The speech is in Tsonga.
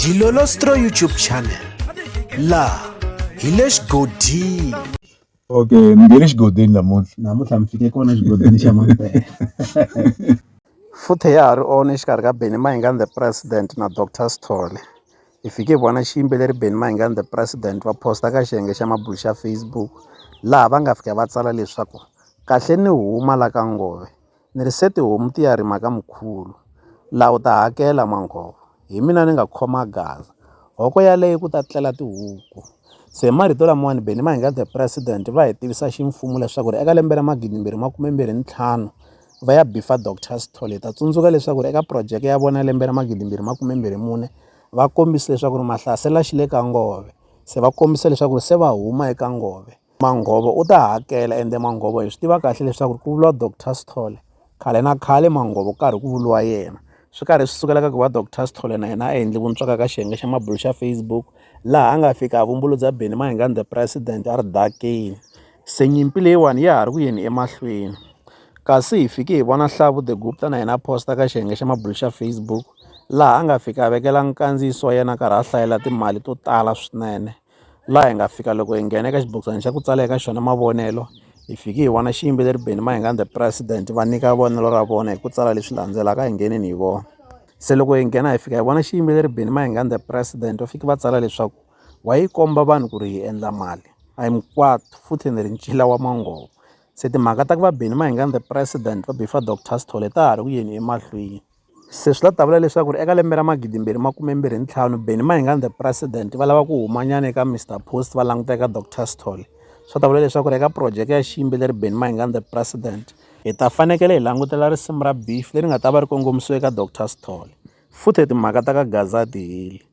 Dilolostro YouTube channel laha hi le xigodini okay ni nge le xigodini namuntlha namuntlha mi fike kona xigodini xa mampela futhe ya ha ri on exikarhi ka benny mahingani the president na dr sithole hi fike hi vona xiyimbeleri benny mahingani the president va posta ka xiyenge xa mabulu xa facebook laha va nga fika va tsala leswaku kahle ni huma la ka ngove Ni rise tihomu ti ya rima ka mukhulu. La u ta hakela, Manghovo. Hi mina ni nga khoma gaza. Hoko yaleyo ku ta tlela tihuku. Se marito lamawani Benny Mahingate President va hi tivisa ximfumo leswaku ri eka lembe ra magidimbirhi makumembirhi ni ntlhanu va ya bifa Dr Sithole. Hi ta tsundzuka leswaku ri eka projeke ya vona ya lembe ra magidimbirhi makumembirhi mune va kombise leswaku ri mahlasela xi le ka ngove se va kombise leswaku ri se va huma eka ngove. Manghovo u ta hakela ende Manghovo hi swi tiva kahle leswaku ku vuriwa Doctor Sithole khale na khale Manghovo ku karhi ku vuriwa yena swi karhi swi sukela ka ku va Doctor Sithole na yena a endli vuntswaka ka xiyenge xa mabulo xa Facebook laha a nga fika a vumbulu bya Benny Mayengani the president a ri dakini se nyimpi leyiwani ya ha ri ku yeni emahlweni kasi hi fike hi vona Hlavu the Gupta na yena a posta ka xiyenge xa mabulo xa Facebook laha a nga fika a vekela nkandziyiso wa yena a karhi a hlayela timali to tala swinene laha hi nga fika loko hi nghena eka xibokisana xa ku tsala eka xona mavonelo hi fiki hi vona xiyimbeleri Benny Mayengani the president va nyika vonelo ra vona hi ku tsala leswi landzelaka hi ngheneni hi vona se loko hi nghena hi fika hi vona xiyimbeleri Benny Mayengani the president va fike va tsala leswaku wa yi komba vanhu ku ri hi endla mali a hi mikwatu futhi ni ri ncila wa mangovo se timhaka ta ku va Benny Mayengani the president va beefer doctor Sithole ta ha ri ku yeni emahlweni. Se swi la ta vula leswaku eka lembe ra magidimbirhi makume mbirhi ntlhanu Benny Mayengani the President va lava ku humanyana eka Mister Post va languta eka Doctor Sithole. Swi ta vula leswaku eka projeke ya xiyimbeleri Benny Mayengani the President hi ta fanekele hi langutela risimu ra Beef leri nga ta va ri kongomisiwe eka Doctor Sithole. Futhi timhaka ta ka Gazza a ti heli.